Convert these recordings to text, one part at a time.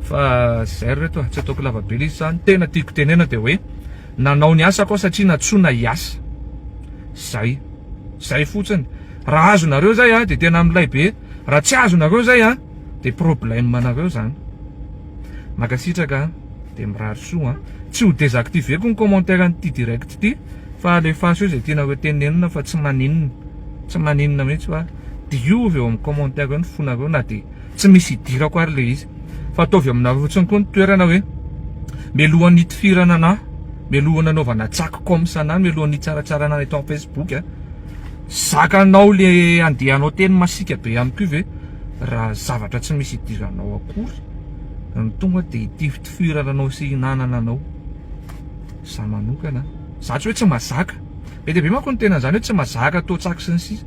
Fa zay ry reto a, tsy ataoko lava be letsy zany, tena tiako tenena de hoe nanao ny asako aho satria nantsoina hiasa, zay, zay fotsiny, raha azonareo zay a de tena milay be, raha tsy azonareo zay a de problème anareo zany, mankasitraka a, de mirary soa a, tsy ho désactiver-ko ny commentaire an'ity direct ity fa alefaso eo zay tianareo tenenina fa tsy maninona, tsy maninona mihitsy fa diovy eo amin'ny commentaire eo ny fonareo na de. Tsy misy hidirako ary le izy fa ataovy aminareo fotsiny koa ny toerana hoe mialohan'ny hitifirana anah, mialohan'ny hanaovana tsaky comme ça anah, mialohan'ny hitsaratsara anah eto am facebook a, zakanao le andehanao teny masiaka be ihany koa ve raha zavatra tsy misy hidiranao akory no tonga de hitifitifirana anao sy hinanana anao, za manokana a, za tsy hoe tsy mazaka, be dia be manko ny tena an'izany hoe tsy mazaka atao tsaky sy ny sisa.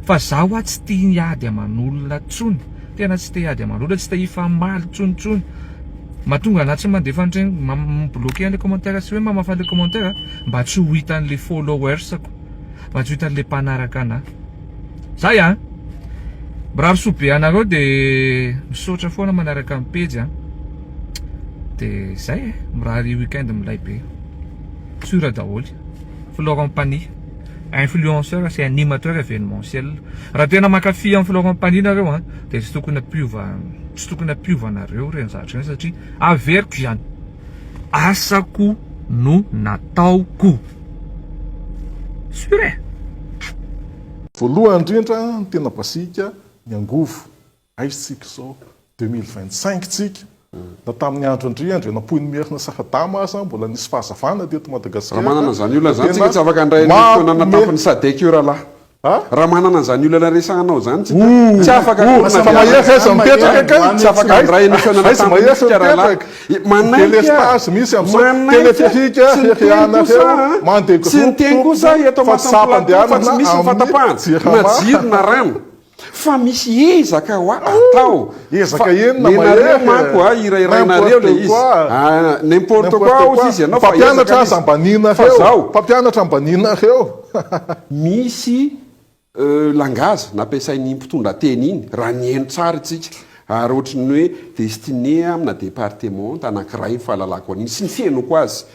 Fa za hoa tsy tia hiady aman'olona tsony, tena tsy te hiady aman'olona, tsy te hifamaly tsony tsony, mahatonga anah tsy mandefa an'ireny, mi bloquer an'le commentaire sy hoe mamafa le commentaire mba tsy ho hitan'le followers-ko, mba tsy ho hitan'le mpanaraka anah. Zay an! Mirary soa be anareo de misaotra foana manaraka ny pejy an! de zay e! mirary week-end milay be, sur daholo, Florent Panihy. Influenceur sy animateur evenementiel. Raha tena mankafy an'i Florent Pagny nareo a, dia tsy tokony hampiova, tsy tokony hampiova anareo ireny zavatra ireny satria averiko izany, asako no nataoko. Sur e! Voalohany indrindra ny tena basic ny angovo. Aiza isika izao? Deux mille vingt cinq tsika. Na tamin'ny andro an-dry Andry Rainampoinimerina sy Radama aza mbola nisy fahazavana teto Madagasikara. Raha manana an'izany olona izany tsika tsy afaka handray an'io fitonana tampony Sadec io rahalahy. Raha manana an'izany olana resahanao izany tsika tsy afaka hanorina fiarahamonina. Tsy afaka handray an'io fitonana tampony io tsika rahalahy. Manainga, manainga, tsy niteny kosa an, tsy niteny kosa aho eto am-asam-plato fa tsy misy ny fahatapahana na jiro na rano. Fa misy ezaka ho atao. Ezaka enina mahery e! Nenareo manko a, hirahirainareo le izy. N'importe quoi hozy izy ianao fa ezaka le izy. Fa zao. Mpampianatra ambaninareo. Misy langage nampiasain'iny mpitondrateny iny, raha nihaino tsara itsika, ary ohatry ny hoe destiné amina departementa anankiray ny fahalalako an'iny sy ny fihainoako azy.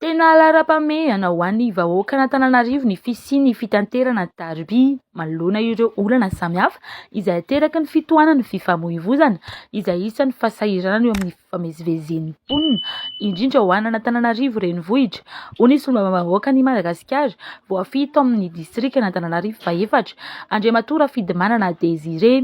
Tena laharam-pahamehana ho an'ny vahoakan'Antananarivo ny fisian'ny fitaterana tariby manoloana ireo olana samihafa izay ateraky ny fitohanan'ny fifamoivoizana izay isan'ny fahasahiranana eo amin'ny fifamezivezen'ny mponina indrindra ho an'Antananarivo renivohitra, hoy ny solombavambahoakan'i Madagasikara voafidy tao amin'ny distrikan'Antananarivo fahefatra, Andriamatoa Rafidimanana Désiré.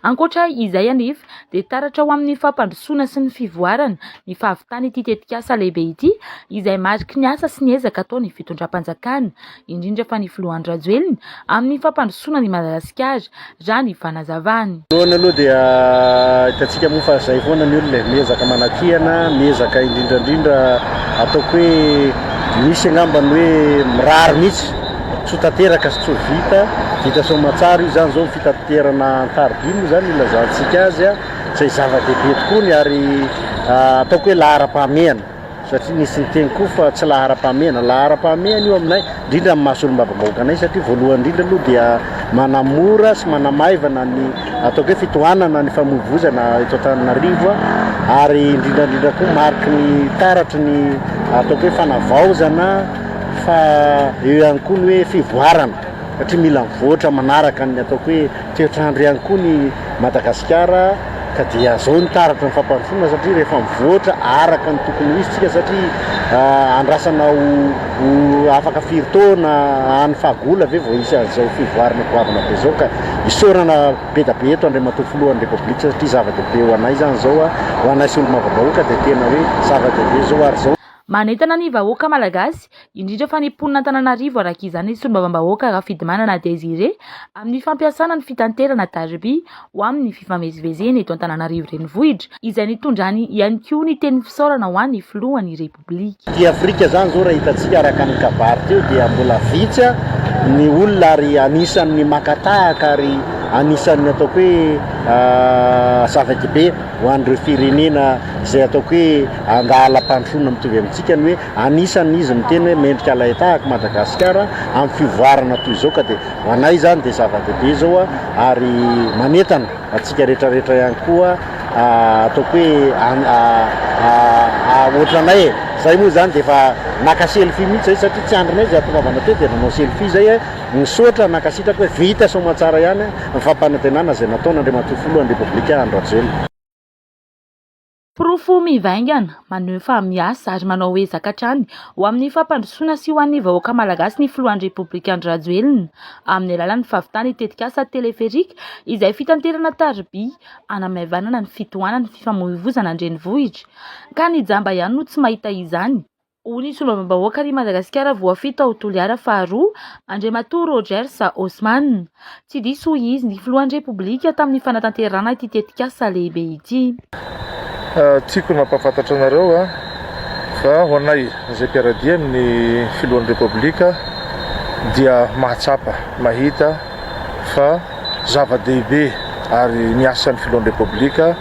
Ankoatra izay anefa dia taratra ho amin'ny fampandrosoana sy ny fivoarana ny fahavitan'ity tetikasa lehibe ity izay mariky ny asa sy ny ezaka ataon'ny fitondram-panjakana, indrindra fa ny filoha Andry Rajoelina amin'ny fampandrosoana an'i Madagasikara, raha ny fanazavany. Voalohany aloha dia hitantsika moa fa izay foana ny olona e, miezaka manakihana, miezaka indrindra indrindra ataoko hoe misy angamba ny hoe mirary mihitsy, soa tanteraka sy tsoa vita, vita soamantsara io izany izao. Fitaterana an-tariby moa izany ilazantsika azy, izay zava-dehibe tokoa ny ary ataoko hoe laharam-pahamehana, satria nisy niteny koa fa tsy laharam-pahamehana. Laharam-pahamehana io aminay, indrindra amin'ny maha solombavambahoaka anay, satria voalohany indrindra aloha dia manamora sy manamaivana ny ataoko hoe fitohanana ny famoivoizana eto Antananarivo, ary indrindra indrindra koa mariky ny taratry ny ataoko hoe fanavaozana, fa eo ihany koa ny hoe fivoarana. satria mila mivoatra manaraka ny ataoko hoe toetr'andro ihany koa ny Madagasikara ka dia zao ny taratry ny fampandrosoana satria rehefa mivoatra araka ny tokony ho izy tsika satria ah, andrasana ho, ho afaka firy taona any fahagola ve vao hisy an'izao fivoarana goavana be zao ka isaorana be da be eto Andriamatoa Filohan'ny Repoblika satria zava-dehibe ho anay zany zao ah, ho anay solombavambahoaka dia tena hoe zava-dehibe zao ary zao Manentana ny vahoaka malagasy indrindra fa ny mponina Antananarivo araka izany ny solombavambahoaka Rafidimanana Désiré amin'ny fampiasana ny fitanterana tariby ho amin'ny fifamezivezena eto Antananarivo renivohitra izay nitondrany ihany koa ny teny fisaorana ho an'ny filohan'ny repoblika. Aty Afrika izany izao raha hitantsika araka ny kabary teo dia mbola vitsy ny olona ary anisan'ny maka tahaka ary anisan'ny ataoko hoe zava-dehibe ho an'ireo firenena izay ataoko hoe handahalam-pandrosoana mitovy amintsika ny hoe Anisan' izy miteny hoe mendrika alain-tahaka i Madagasikara amin'ny fivoarana toy izao ka dia ho anay izany dia zava-dehibe izao ary manentana antsika rehetra rehetra ihany koa ataoko hoe ohatranay e! Izay moa izany dia efa naka selfie mihitsy izay satria tsy andrinay izay hahatongavana teo dia nanao selfie izay e! Misaotra, nankasitraka hoe vita soamantsara ihany ny fampanantenana izay nataon' Andriamatoa Filohan' ny Repoblika Andry Rajoelina. Porofo mivaingana, maneho fa miasa ary manao ezaka hatrany ho amin'ny fampandrosoana sy ho an'ny vahoaka Malagasy ny filohan'ny Repoblika Andry Rajoelina, amin'ny alalan'ny fahavitany ny tetikasa Teleferika izay fitanterana tariby hanamaivanana ny fitohanan'ny fifamoivoizana an-drenivohitra, ka ny jamba ihany no tsy mahita izany. Ho ny solombavambahoaka ary Madagasikara voafito ao Toliara faharoa, Andriamatoa Rogers Osman. Tsy diso hoy izy ny filohan'ny Repoblika tamin'ny fanatanterahana ity tetikasa lehibe ity. Tiako ny mampahafantatra anareo fa ho anay izay mpiara-dia amin'ny filohan'ny Repoblika dia mahatsapa, mahita fa zava-dehibe ary ny asan'ny filohan'ny Repoblika,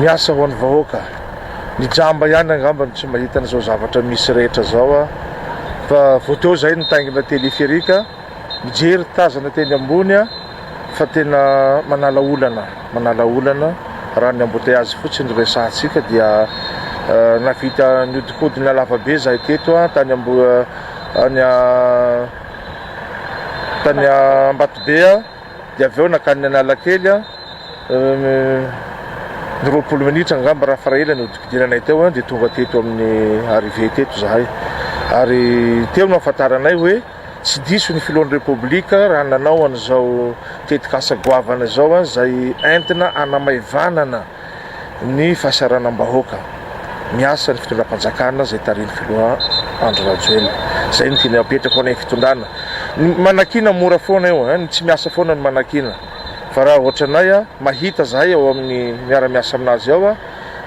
miasa ho an'ny vahoaka. Ny jamba ihany angamba no tsy mahita an'izao zavatra misy rehetra zao a! Fa vao teo zay nitaingina téléphérique, mijery tazana teny ambony a! Fa tena manala olana, manala olana, raha ny embouteillages fotsiny no resahantsika dia nahavita nihodinkodina lavabe zahay teto a! Tany Ambohi- tany Ambatobe a! Dia avy eo nankany Analakely aho, ny roapolo minitra angamba raha fara ela ny hodikidiranay teo eo dia tonga teto amin'ny arrivée teto izahay. Ary teo no ahafantaranay hoe tsy diso ny filohan'ny Repoblika raha nanao an'izao tetikasa goavana izao izay entina hanamaivanana ny fahasahiranam-bahoaka miasa ny fitondram-panjakana izay tarihin'ny filoha Andry Rajoelina. Izay no tianay apetraka ho anay fitondrana. Ny manakiana mora foana io, ny tsy miasa foana no manakiana. Fa raha ohatranay, mahita zahay ao amin'ny miara-miasa aminazy ao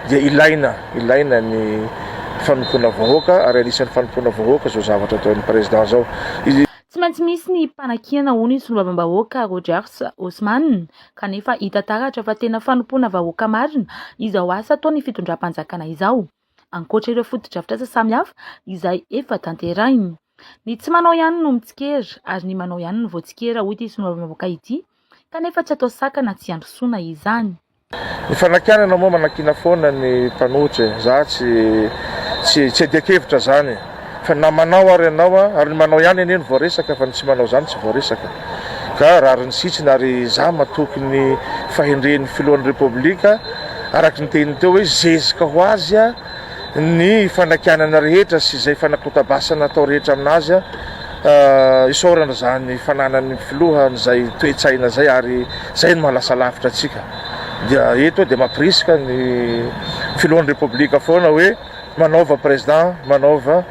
dia ilaina, ilaina ny fanompoana vahoaka ary anisan'ny fanompoana vahoaka izao zavatra ataon'ny Président izao. Tsy maintsy misy ny mpanakiana hoy ny Solombavambahoaka Rogers Osman kanefa hita taratra fa tena fanompoana vahoaka marina izao asa ataon'ny fitondram-panjakana izao, ankoatra ireo fotodrafitrasa samihafa izay efa tanterahiny. Ny tsy manao ihany no mitsikera ary ny manao ihany no voatsikera, hoy ity solombavambahoaka ity, kanefa tsy atao sakana tsy handrosoana izany. Ny fanakianana moa manakiana foana ny mpanohitra e! Za tsy tsy tsy iadian-kevitra zany. Fa na manao ary ianao an, ary ny manao ihany anie no voaresaka fa ny tsy manao izany tsy voaresaka. Ka rariny sitsiny ary izaho matoky ny fahendren'ny filohan'ny Repoblika araka ny teniny teo hoe zezika ho azy ny fanakianana rehetra sy izay fanakotabasana atao rehetra amin'azy. Isaorana izany fananan'ny filoha an'izay toe-tsaina izay ary izay no mahalasa lavitra antsika. Dia eto dia mampirisika ny filohan'ny Repoblika foana hoe. Manaova President manaova.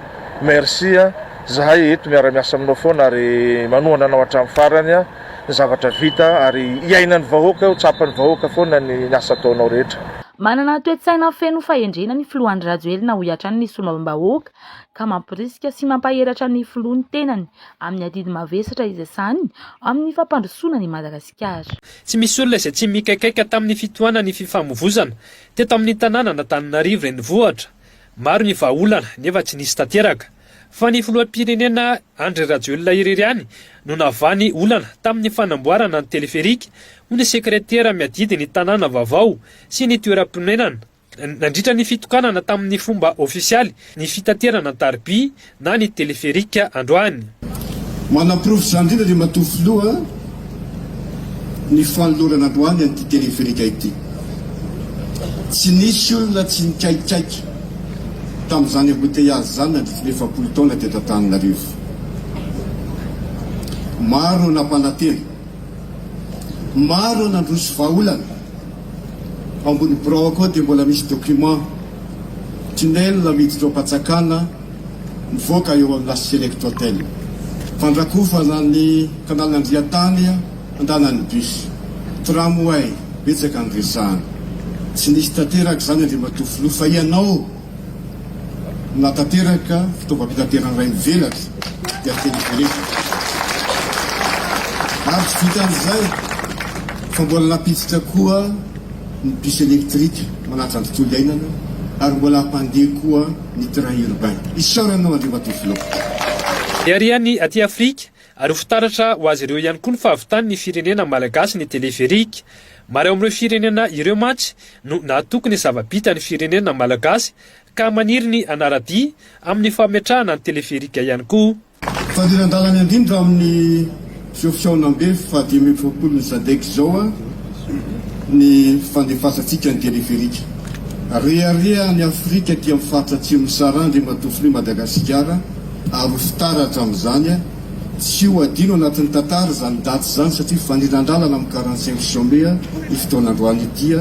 Merci a! Zahay eto miara miasa aminao foana ary manohana anao hatramin'ny farany a! Ny zavatra vita ary iainan'ny vahoaka io, tsapan'ny vahoaka foana ny asa ataonao rehetra. Manana toe-tsaina feno fahendrena ny filoha Andry Rajoelina hoy hatrany ny solombavambahoaka ka mamporisika sy mampaheratra ny filoha ny tenany amin'ny adidy mavesatra izay sahaniny amin'ny fampandrosoana an'i Madagasikara. Tsy misy olona izay tsy mikaikaika tamin'ny fitohanan'ny fifamovoizana. Teto amin'ny tanànan'Antananarivo renivohitra, maro ny vahaolana nefa tsy nisy tanteraka. Fa ny filoham-pirenena Andry Rajoelina irery ihany no navany olana tamin'ny fanamboarana ny teleferika ho ny sekretera miadidy ny tanàna vaovao sy ny toeram-ponenana. Nandritra ny fitokanana tamin'ny fomba ofisialy ny fitaterana an-tariby na ny téléphérique androany. Manaporofo izany indrindra ry matoa filoha ny fanolorana androany an'ity téléphérique ity. Tsy nisy olona tsy nikaikaiky tamin'izany embouteillage izany nandritry ny efapolo taona teto Antananarivo. Maro no nampanantena, maro no nandroso vahaolana. Ao ambony birao koa dia mbola misy document tunnel miditra ao Ampatsakana mivoaka eo amin'ny La Select Hotel. Fandrakofana ny canal Andriantany andanan'ny bus. Tramway, betsaka ny resahana. Tsy nisy tanteraka izany Andriamatoa Filoha fa ianao Natanteraka fitaovam-pitaterana iray mivelatra ny aterineto. Ary tsy vitan'izay fa mbola nampiditra koa ny bus électrique manaja ny tontolo iainana ary mbola hampandeha koa ny train urbain. Isaorana anao Andriamatoa Filoha. Miharihany aty Afrika Ary ho fitaratra ho azy ireo ihany koa ny fahavitan'ny firenena malagasy ny teleferika. Maro ao amin'ireo firenena ireo mantsy no nahatoky ny zava-bitan'ny firenena malagasy ka maniry ny hanara-dia amin'ny fametrahana ny teleferika ihany koa. Fandriran-dalana indrindra amin'ny izao fihaonambe fahadimy amby efapolon'ny Sadec izao ny fandefasantsika ny teleferika. Rehareha an'i Afrika aty amin'ny faritra Atsimon'i Sahara Andriamatoa Filoha Madagasikara. Ary ho fitara hatramin'izany, tsy ho adino anatin'ny tantara izany daty izany satria fanilan-dalana amin'ny quarante cinq juin mai io fotoana androany ity.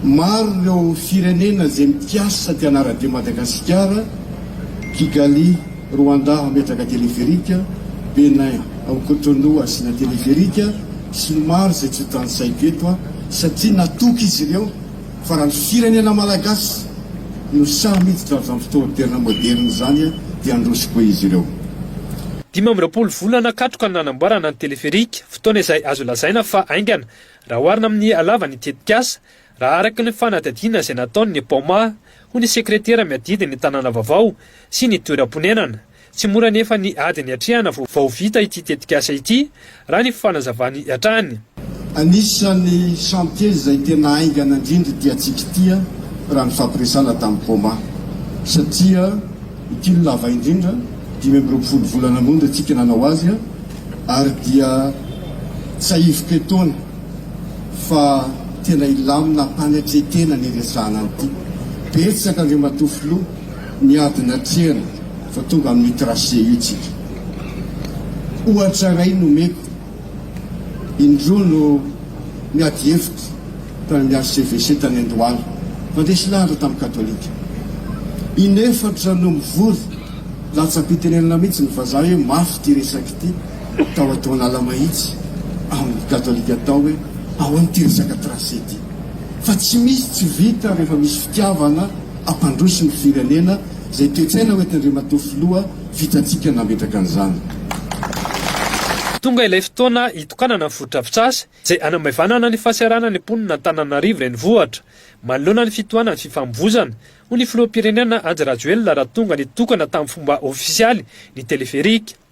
Maro ireo firenena izay mikasa te hanara-dia Madagasikara, Kigali, Rwanda hametraka téléphérique, Bénin ao Cotonou hasiana téléphérique sy ny maro izay tsy ho tanisaiko eto satria natoky izy ireo. Fa raha ny firenena Malagasy no sahy miditra amin'izany fotoan-terina moderina izany dia handroso koa izy ireo. Dimy amby roapolo volana katroka no nanamboarana ny teleferika, fotoana izay azo lazaina fa haingana raha oharina amin'ny halavan'ny tetikasa, raha araka ny fanadihadiana izay nataon'ny Paoma, hoy ny sekretera miadidy ny tanàna vaovao sy ny toeram-ponenana. Tsy mora anefa ny ady niatrehana vao vita ity tetikasa ity, raha ny fanazavany hatrany. Anisan'ny chantiers izay tena haingana indrindra ity hatsiaka ity, raha ny fampiresana tamin'i Poma, satria ity no lava indrindra, dimy amby roapolo volana monja isika nanao azy, ary dia tsiahiviko etoana fa tena hilamina hampaniatre tena ny hiresahana an'ity. Betsaka, Andriamatoa Filoha. niady natrehana vao tonga amin'io tracé io tsika. Ohatra iray no omeko, indroa no niady hevitra tany amin'ny HCVC tany Andohalo, nandresy lahatra tamin'ny katolika. Inefatra no mivory, latsam-pitenenana mihitsy ny vazaha hoe mafy ity resaka ity, tao Antohanala Mahitsy, amin'ny katolika tao hoe ahoana ity resaka tracé ity. fa tsy misy tsy vita rehefa misy fitiavana hampandroso ny firenena izay toetsaina hoety Andriamatoa Filoha vitantsika nametraka an'izany. Tonga ilay fotoana hitokanana ny fotodrafitrasa izay hanamaivanana ny fahasahiranana ny mponin' Antananarivo Renivohitra manoloana ny fitohanan'ny fifamovoizana, hoy ny Filoham-pirenena Andry Rajoelina raha tonga nitokana tamin'ny fomba ofisialy ny teleferika.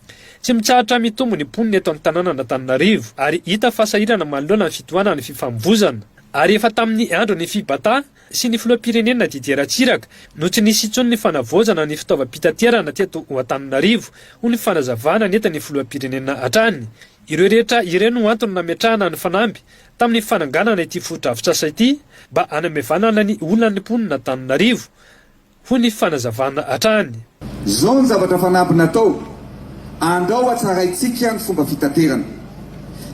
Tsy mitsahatra mitombo ny mponina eto Antananan'Antananarivo ary hita fa sahirana manoloana ny fitohanan'ny fifamovoizana. Ary efa tamin'ny andron'ny Fibata sy ny filoham-pirenena Didier Ratsiraka no tsy nisy intsony ny fanavaozana ny fitaovam-pitaterana teto Antananarivo hoy ny fanazavana nentin'ny filoham-pirenena hatrany. Ireo rehetra ireo no antony nametrahana ny fanamby tamin'ny fananganana ity fotodrafitrasa ity mba hanamaivanana ny olan'ny mponin'Antananarivo hoy ny fanazavana hatrany. Izao ny zavatra fanamby natao, Andao hatsaraintsika ny fomba fitaterana.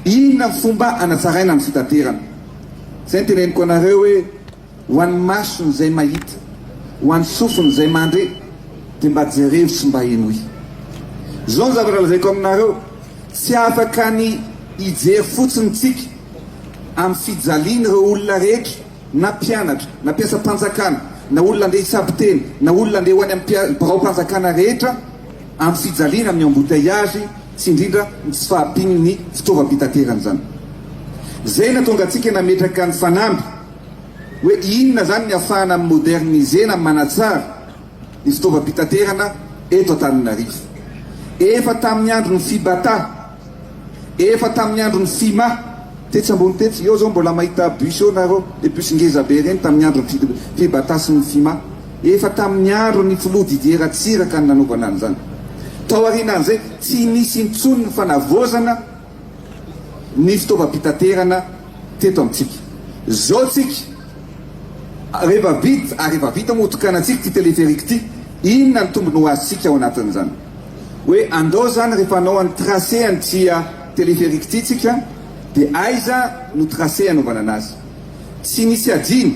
Inona ny fomba hanatsaraina ny fitaterana? Izay no teneniko anareo hoe, ho an'ny mason'izay mahita, ho an'ny sofin'izay mandre, dia mba jereo sy mba henoy. Izao ny zavatra lazaiko aminareo, tsy afaka ny hijery fotsiny isika amin'ny fijalian'ireo olona rehetra, na mpianatra, na mpiasam-panjakana, na olona andeha hitsabo teny, na olona andeha ho any amin'ny biraom-panjakana rehetra amin'ny fijaliana amin'ny embouteillages sy indrindra ny tsy fahampian'ny fitaovam-pitaterana izany. Izay nahatonga antsika nametraka ny fanamby hoe inona izany ny afahana mi-moderniser na manatsara ny fitaovam-pitaterana eto Antananarivo. Efa tamin'ny andron'ny Fibata, efa tamin'ny andron'ny Fima, tetsy ambony tetsy, eo zao mbola mahita bus eo nareo, le bus ngeza be reny tamin'ny andron'ny Fibata sy ny Fima. Efa tamin'ny andron'ny Filoha Didier Ratsiraka ny nanaovana an'izany. Tao aorianan'izay, tsy nisy intsony ny fanavaozana ny fitaovam-pitaterana teto amintsika. Zao tsika rehefa vita ary efa vita moa hotokanantsika ity téléphérique ity, inona ny tombony ho azontsika ao anatin'izany? Hoe andao zany rehefa hanao an'i tracé an'ity téléphérique ity tsika de aiza no tracé hanaovana anazy? Tsy misy adino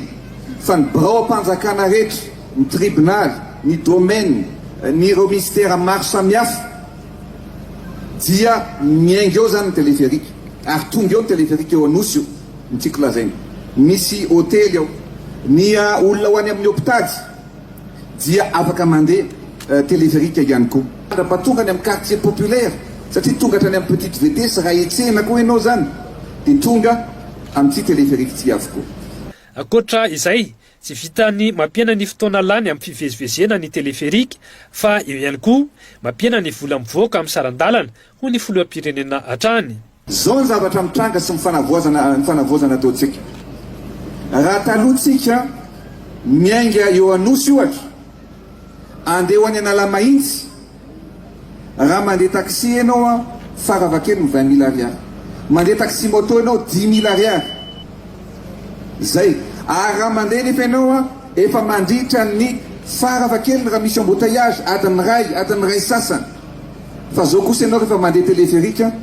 fa ny biraom-panjakana rehetra, ny tribonaly, ny domaine, ny ireo minisitera maro samihafa, Dia miainga eo zany ny téléphérique ary tonga eo ny téléphérique eo Anosy io ny tiako lazaina. Misy hotely ao. Ny olona ho any amin'ny hopitaly dia afaka mandeha téléphérique ihany koa. Raha mba tonga any amin'ny quartier populaire satria tonga hatrany amin'ny petite vitesse raha hitsena koa ianao zany dia tonga amin'ity téléphérique ity avokoa. Ankoatra izay Tsy vitan'ny mampihena ny fotoana lany amin'ny fivezivezena ny teleferika fa eo ihany koa mampihena ny vola mivoaka amin'ny saran-dalana, hoy ny filoham-pirenena hatrany. Izao ny zavatra mitranga sy ny fanavaozana ny fanavaozana ataontsika. Raha taloha tsika miainga eo Anosy ohatra, andeha ho any Analamahitsy, Raha mandeha taxi ianao an, fara va kely ny vingt mille ariary. Mandeha taxi moto ianao dix mille ariary. Zay. Ary raha mandeha nefa ianao an, efa mandritra ny, fara va kely raha misy embouteillages, adiny iray, adiny iray sasany. Fa zao kosa ianao rehefa mandeha téléphérique an,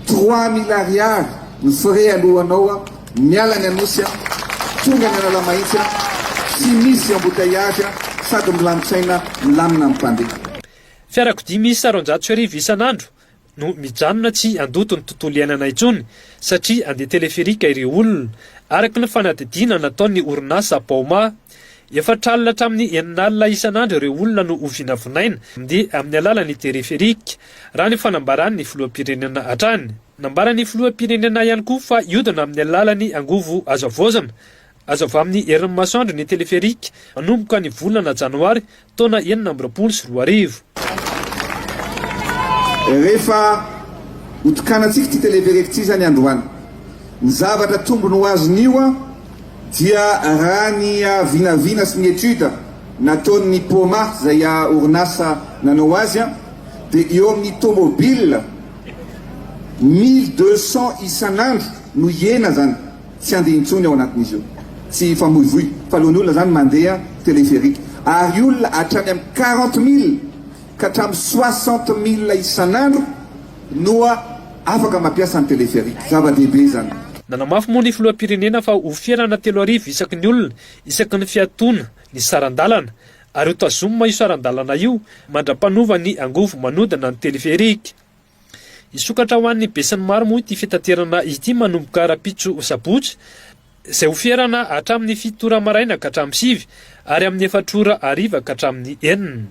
trois mille ariary ny frais alohanao Miala ny Anosy a, tonga ny Analamahitsy a, tsy misy embouteillage a, sady milamin-tsaina, milamina ny mpandeha. Fiarakodia miisa roanjato sy arivo isan'andro no mijanona tsy handoto ny tontolo iainana intsony satria handeha teleferika ireo olona, araka ny fanadihadiana nataon'ny orinasa Baoma. Efatra alina hatramin'ny enina alina isan'andro ireo olona no hovinavinaina mandeha amin'ny alalan'ny teleferika, raha ny fanambaran'ny filoham-pirenena hatrany. Nambaran'ny filoham-pirenena ihany koa fa hiodina amin'ny alalan'ny angovo azo havaozana. Azo avy amin'ny herin'ny masoandro ny teleferika manomboka ny volana janoary taona enina amby roapolo sy roa arivo. Rehefa hotokanantsika ity teleferika ity izany androany, ny zavatra tombony ho azon'io dia raha ny vinavina sy ny étude nataon'ny Poma izay orinasa nanao azy dia eo amin'ny tomobile, Mille deux cents isan'andro no hiena zany tsy handeha intsony ao anatin'izy io tsy hifamoivoy fa alohan'ny olona zany mandeha téléphérique ary olona hatrany amin'ny quarante mille ka hatramin'ny soixante mille isan'andro no afaka mampiasa ny téléphérique. Zava-dehibe zany. Nanamafy moa ny filoham-pirenena fa ho fihenana telo arivo isaky ny olona isaky ny fiatoana ny saran-dalana ary ho tazomina io saran-dalana io mandra-panova ny angovo manodina ny teleferika. Hisokatra ho an'ny besinimaro moa ity fitaterana ity manomboka rahampitso sabotsy, izay ho ferana hatramin'ny fito ora maraina ka hatramin'ny sivy, ary amin'ny efatra ora hariva ka hatramin'ny enina.